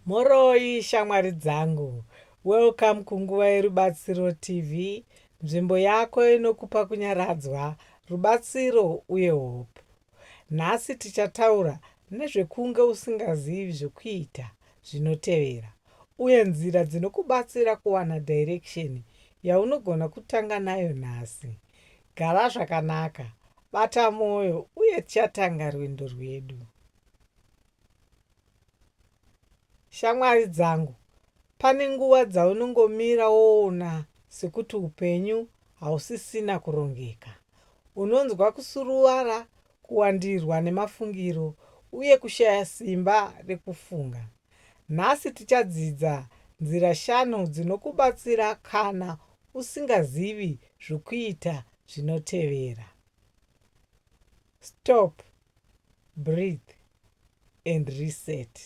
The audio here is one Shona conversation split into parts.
Mhoroi shamwari dzangu. Welcome kunguva yerubatsiro TV, nzvimbo yako inokupa kunyaradzwa, rubatsiro uye hope. Nhasi tichataura nezvekunge usingazivi zvekuita zvinotevera uye nzira dzinokubatsira kuwana direction yaunogona kutanga nayo nhasi. Gara zvakanaka, bata moyo uye tichatanga rwendo rwedu. Shamwari dzangu, pane nguva dzaunongomira woona sekuti upenyu hausisina kurongeka. Unonzwa kusuruvara, kuwandirwa nemafungiro, uye kushaya simba rekufunga. Nhasi tichadzidza nzira shanu dzinokubatsira kana usingazivi zvokuita zvinotevera. Stop, breathe and reset.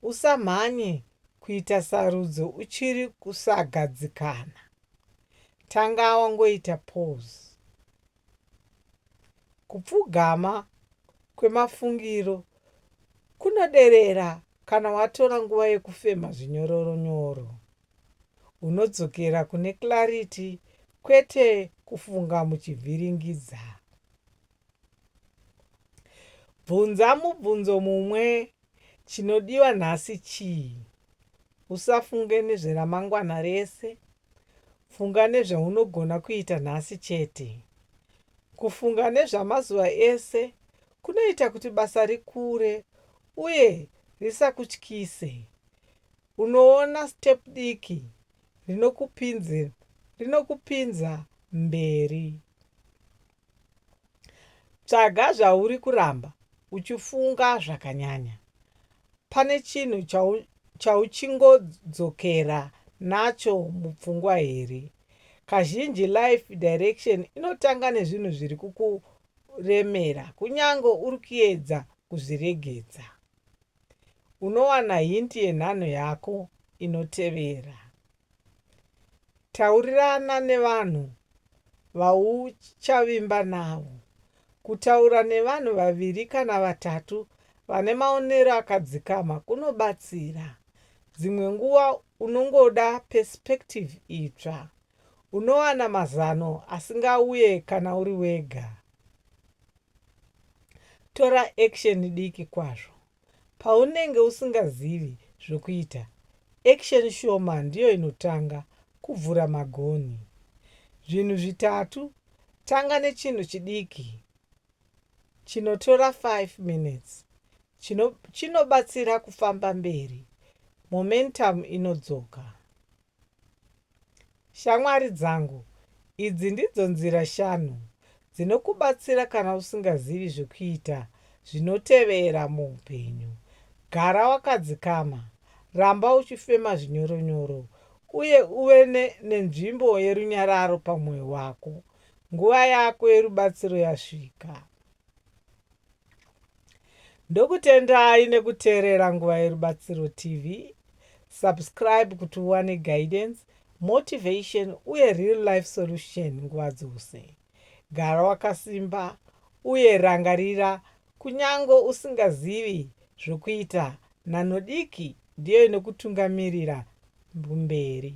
Usamhanye kuita sarudzo uchiri kusagadzikana. Tanga wangoita pause. Kupfugama kwemafungiro kunoderera kana watora nguva yekufema zvinyororo nyoro. unodzokera kune clarity kwete kufunga muchivhiringidza. Bvunza mubvunzo mumwe, Chinodiwa nhasi chii? Usafunge nezveramangwana rese. Funga nezvaunogona kuita nhasi chete. Kufunga nezvamazuva ese kunoita kuti basa rikure uye risakutyise. Unoona step diki rinokupinzir rinokupinza mberi. Tsvaga zvauri kuramba uchifunga zvakanyanya. Pane chinhu chau chauchingodzokera nacho mupfungwa here? Kazhinji life direction inotanga nezvinhu zviri kukuremera kunyange uri kuedza kuzviregedza. Unowana hint yenhanho yako inotevera. Taurirana nevanhu vauchavimba navo. Kutaura nevanhu vaviri kana vatatu vane maonero akadzikama kunobatsira. Dzimwe nguva unongoda perspective itsva. Unowana mazano asingauye kana uri wega. Tora action diki kwazvo paunenge usingazivi zvokuita. Action shoma ndiyo inotanga kubvura magonhi. Zvinhu zvitatu, tanga nechinhu chidiki chinotora 5 minutes chinobatsira kufamba mberi, momentum inodzoka. Shamwari dzangu, idzi ndidzo nzira shanu dzinokubatsira kana usingazivi zvekuita zvinotevera muupenyu, Gara wakadzikama, ramba uchifema zvinyoronyoro, uye uve nenzvimbo yerunyararo pamwoyo wako nguva yako yerubatsiro yasvika. Ndokutendai nekuteerera Nguva Yerubatsiro TV. Subscribe kuti uwane guidance, motivation uye real life solution nguva dzose. Gara wakasimba uye rangarira kunyange usingazivi zvokuita, nhanho diki ndiyo inokutungamirira mberi.